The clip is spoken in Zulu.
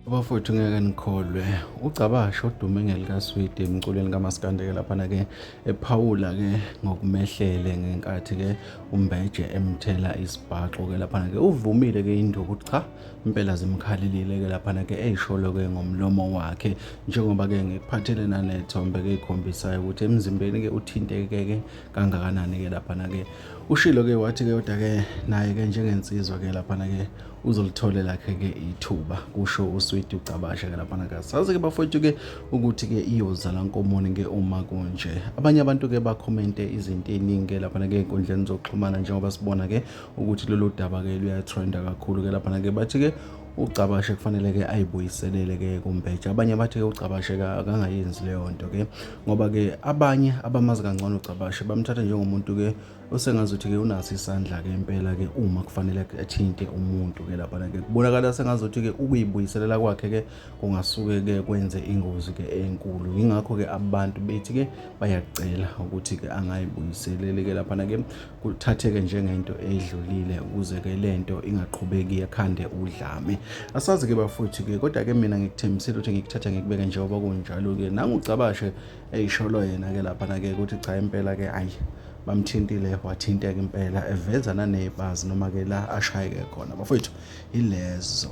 abafowethu ngeke nikholwe ugcabasha odume ngelikaswidi emculweni kamaskandeke laphana-ke ephawula-ke ngokumehlele ngenkathi-ke umbeje emthela isibhaxo-ke laphana-ke uvumile-ke induku ukuthi cha impela zimkhalelile-ke laphana-ke eyisholo-ke ngomlomo wakhe njengoba-ke ngikuphathele nanethombe-ke ikhombisayo ukuthi emzimbeni-ke uthinteke-ke kangakanani-ke laphana-ke ushilo-ke wathi-ke kodwa-ke naye-ke njengensizwa-ke laphana-ke uzolithole lakhe-ke ithuba kusho uswidi ucabasha-ke laphana-ke sazi-ke bafowethu-ke ukuthi-ke iyozala nkomoni-ke uma kunje abanye abantu-ke bakhomente izinto ey'ningi-ke laphana-ke ey'nkundleni zokuxhumana njengoba sibona-ke ukuthi lolu daba-ke luyatrenda kakhulu-ke laphana-ke bathi-ke uGcabashe kufanele ke ayibuyiselele ke kuMbeja abanye bathi ke uGcabashe akangayenzi leyo nto ke ngoba ke abanye abamazi kangcono uGcabashe bamthatha njengomuntu ke osengazuthi ke unaso isandla ke impela ke uma kufanele athinte umuntu ke lapha ke kubonakala sengazuthi ke ukuyibuyiselela kwakhe ke kungasuke ke kwenze ingozi ke enkulu ingakho ke abantu bethi ke bayacela ukuthi ke angayibuyiselele ke lapha ke kuthatheke njengento edlulile ukuze ke lento ingaqhubeki ekhande udlame asazi ke bafuthi ke kodwa ke mina ngikuthembisile ukuthi ngikuthatha ngikubeke njengoba kunjalo ke nangucabashe eyisholo yena ke lapha na ke ukuthi cha impela ke ayi bamthintile wathinteka impela eveza nanebazi noma ke la ashayeke khona bafowethu ilezo